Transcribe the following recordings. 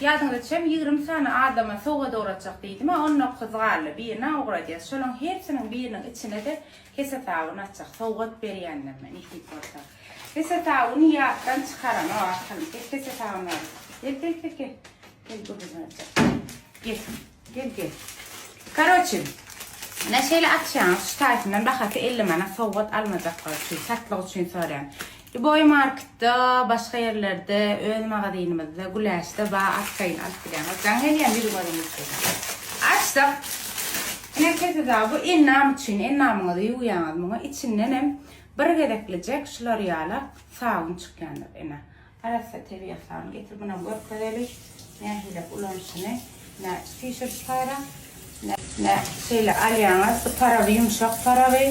Ýadyňyza çem ýigrimi sany adama sowgat ugratjak diýdim-ä, on dokuz galdy, birini-ä ugradýas. Şolaň hersiniň biriniň içine-de hesetabyn atjak, sowgat berýänlerine nesip bolsa. Hesetabyny ýatdan çykaranok, akyl. Gel, hesetabyny alyp. Gel, gel, gel, gel. Gel, gürrüň aýtjak. Gel. Gel gel. Karoçi. Ine şeýle açýaňyz şu taýpyndan bahasy 50 manat sowgat almajaklar üçin satlyk üçin soraýan. Iboy marketda başga ýerlerde öz magazynymyzda güläçde ba atsaýyn alyp bilýäňiz. Jaň gelýän ýüz görüm üçin. Açdyk. Ine keseda bu ennam üçin ennamyňyzy ýuwýaňyz muňa içinden hem bir gezeklijek şular ýala sabun çykýandyr ine. Arassa tebigat sany getir buna görkezeli nähili ulanyşyny nä fisher spara nä şeýle alýaňyz bu taraby ýumşak taraby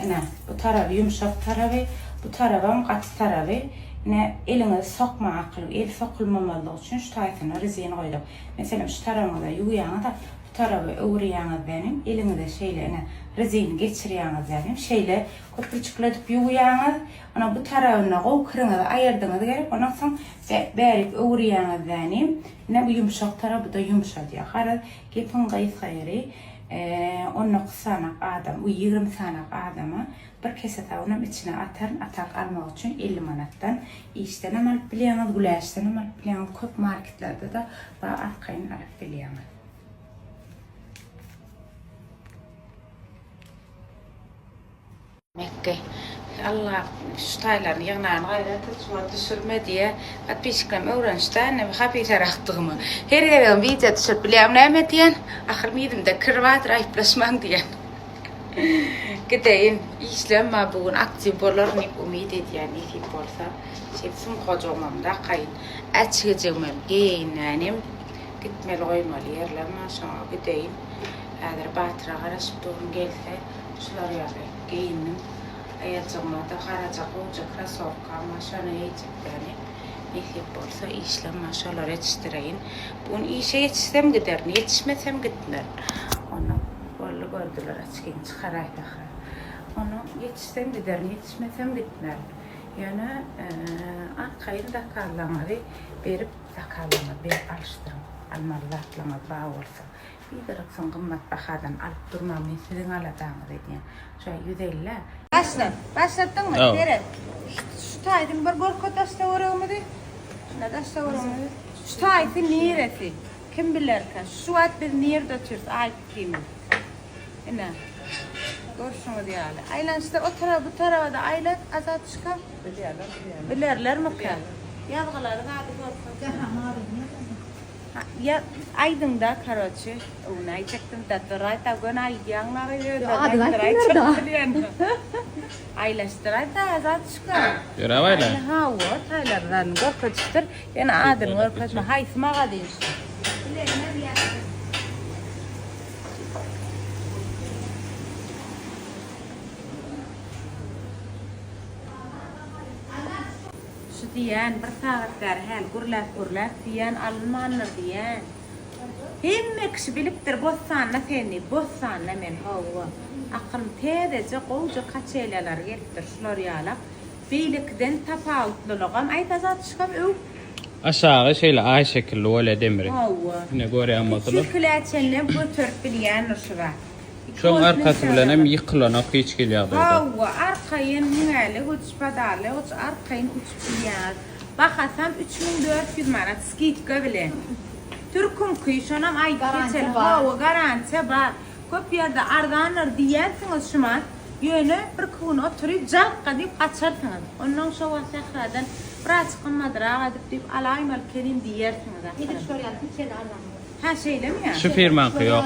ine bu taraby ýumşak taraby bu tarabam gaty taraby ine eliňizi sokmaň akylyň eli sokulmamazlygy üçin şu taýsyna rezin goýlak meselem şu tarabyňyza ýuwýaňyzda bu taraba öwürýaňyzdanem eliňize şeýle ine rezini geçirýaňyzdanem şeýle köpürjikledip ýuwýaňyz Ony bu tarabynda gowy kiriňizi aýyrdyňyz gerek, ondan soň bärik öwürýäňizden ine bu ýumşak tarap bu-da ýumşadýar. Garaz, gepiň gysga ýeri, on dokuz sanak adam, u ýigrimi sanak adama bir kese sabynam içine ataryn, atak almak üçin elli manatdan işdenem alyp bilýäňiz, güläçdenem alyp bilýäňiz, köp marketlerde-de bar arkaýyn alyp bilýäňiz. Mekge. Alla şu taýlaryny ýygnan gaýra türkmen düşürme diýä podpisçiklerim öwrenişdä indi hapisaragdygymy. Her gezegem wideo düşürip bilýäňmi näme diýen. Ahyr mizimde kir bardyr aýyplaşmaň diýen. Gideýin işlemma bu gün aktiw bolaryn diýip umyt edýän nesip bolsa. Şeýdip sumkajygymam dakaýyn. Äçgijigimem geýeýin nänim. Gitmeli goýmaly ýerlem bar şoňa gideýin. Häzir Batyra garaşyp durun gelse. şular ýaly geýindim. Aýajygyma-da garaja gowja krasowkama şony eýjekdäni. Nesip bolsa işlem-ä şolary etişdireýin. Bu gün işe ýetişsem giderin, ýetişmesem gitmerin. Onnoň, boldy gördüler, açkini çykaraýda-ha. Onnoň, ýetişsem giderin, ýetişmesem gitmerin. Ýöne arkaýyn zakazlaryňyzy berip, zakazlaryňyzy berip alyşdyryň. Almaly zatlaryňyz bar bolsa. Biderek soň gymmat bahadan alyp durmaň men siziň aladaňyz edýän şo ýüz ellä. Başlat. Başlatdyňmy? Hawa. Seret. Şu taýdan bir görket daş töweregimizi. Şuna daş töweregimizi. Şu taýsy niresi? Kim bilerkä? Şu wagt biz nirde otyrys? Aýt ikimiz. Ine. Görşüňiz ýaly. Aýlanyşda o tarap bu taraba-da aýlat Azatçyka. Bilýärler, bilýärler. Bilerlermikä? Ýazgylary zady görkezme. Jahan maryny ýazan. Ýa aýdyňda karoçi ony aýtjakdym da duraýta göni aýdýaň maga ýöne aýdyň aýlaşdyraýda azat şuka ýöräp aýla ha wo taýlar zany görkezişdir ýöne adyny görkezme haýsy magazin şu Şu diýýän, bir sagat bäri häli gürläp-gürläp diýýän alynmandyr diýýän. Hemme kişi bilipdir Bossanda sen diýip, Bossanda men, hawa. Akylym täzeje, gowja kaçelýalary gelipdir, şular ýalak. Beýlekiden tapawutlylygam, aýt Azat şkam öw. Aşagy şeýle aý şekilli bolýa demiri. Hawa. Ine görýän bolsalar. Üç-ýüz kilä çenlem göterip bilýändir şu zat. Şoň arkasy bilen hem ýykylanok hiç hili ýagdaýda. Hawa, arkaýyn müňäýlek uçup, badarlaýak uçup, arkaýyn uçup bilýäňiz. Bahasam üç müň dört ýüz manat skidka bilen. Türküňki, şonam aýdyp geçelim. Hawa, garantiýa bar. Köp ýerde arzandyr diýýänsiňiz şumat, ýöne birki gün oturyp, jalka diýip gaçarsyňyz. Onnoň şo wagt sähradan bir azajyk gymmadrak edip diýip alaýmalykänin diýersiňiz ahyry. Edip görýäň, hiç hili arzan däl. Hä, şeýlemi ýa? Şu firmaňky ýok.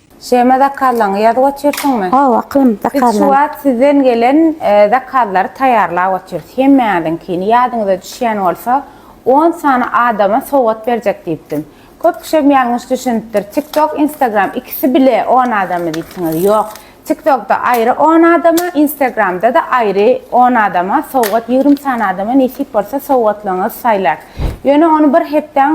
Şema zakazlaňy ýazyp otyrsyňmy? Hawa aklym zakazlaň. Biz şu wagt sizden gelen zakazlary taýýarlap otyrys. Hemmäňiziňkini ýadyňyza düşýän bolsa on sany adama sowgat berjek diýipdim. Köp kişem ýalňyş düşünipdir. Tik tok, instagram ikisi bile on adama diýipsiňiz. Ýok. Tik tokda aýry on adama, instagramda-da aýry on adama sowgat ýigrimi sany adama nesip bolsa sowgatlaňyzy saýlar. Ýöne ony bir hepdäň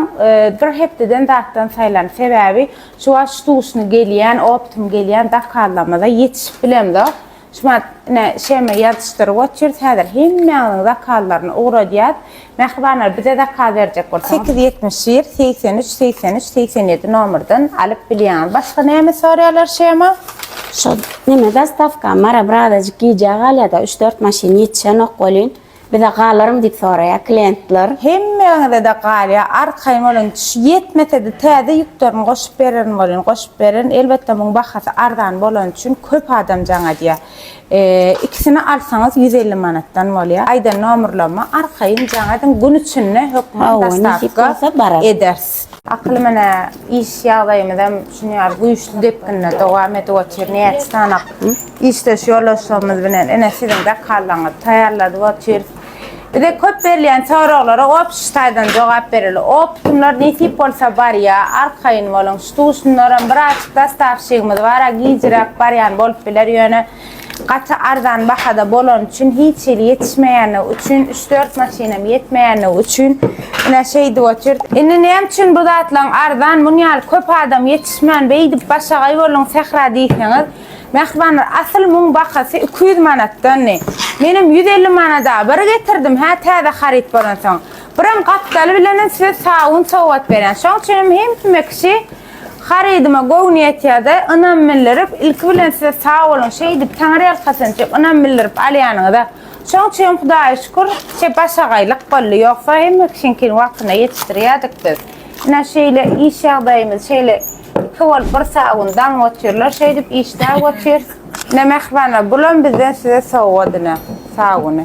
bir hepdeden zatdan saýlan. Sebäbi Çuwaş duşuny gelýän optum gelýän zakallamyza ýetişip bilemzok. Şumat ine şeme ýazyşdyryp otyrs häzir hemmäňiziň zakallarny ugradýas. Mähribanlar bize zakaz berjek bolsaňyz sekiz ýetmiş bir segsen üç segsen üç segsen ýedi nomerden alyp bilýäňiz. Başga näme sorýalar şema? Şo neme zastawka Mara birazajyk gijä galýada üç dört maşyn ýetişenok welin Bize galarmy diýip soraýar klientler. Hemmäňizede galýa arkaýyn boluň ýetmesede täze ýükderini goşup bererin bolýn goşup bererin elbetde muň bahasy arzan bolany üçin köp adam jaň edýä ikisini alsaňyz ýüz elli manatdan bolýa aýdan nomrlama arkaýyn jaň ediň gün içinde hökman dostawka ederis. Akyl-mine iş ýagdaýymyzam şunuň ýaly güýçli depginde dowam edip otyr. Näçe sany işdeş ýoldaşlarymyz bilen ine siziň zakazlaryňyzy taýýarladyp otyrys. Bize köp berilýän soraglara opşy taýdan jogap bereli. Optumlar nesip bolsa barýar, arkaýyn boluň. Ştusunlaram biraz dastavşigimiz bar-a, gijiräk barýan bolup biler, ýöne. gaty arzan bahada bolany üçin hiç hili ýetişmeýändigi üçin üç dört maşynam ýetmeýändigi üçin ine şeýdip otyr. Indi näme üçin bu zatlaryň arzan muny ýaly köp adam ýetişmän beýdip başagaý bolduň sähra diýseňiz mähribanlar asyl muň bahasy iki ýüz manatdandy menem ýüz elli manada bir getirdim hä täze haryt bolansoň biram gapdaly bilenem size sag gün sowgat berýän şoň üçinem hemsme kişi Harydyma göwni ýetýärde ynam bildirip ilki bilen size sag boluň şeýdip taňryýalkasynçy ynam bildirip alýanyňyza şoň üçin hudaýa şükür şe başagaýlyk boldy ýogsa hemme kişiňkini wagtynda ýetişdirýädik biz ine şeýle iş ýagdaýymyz şeýle iki bolup bir sag gün daňyp otyrlar şeýdip işläp otyrys ine mähribanlar bulam bizden size sowgat ine sag boluň.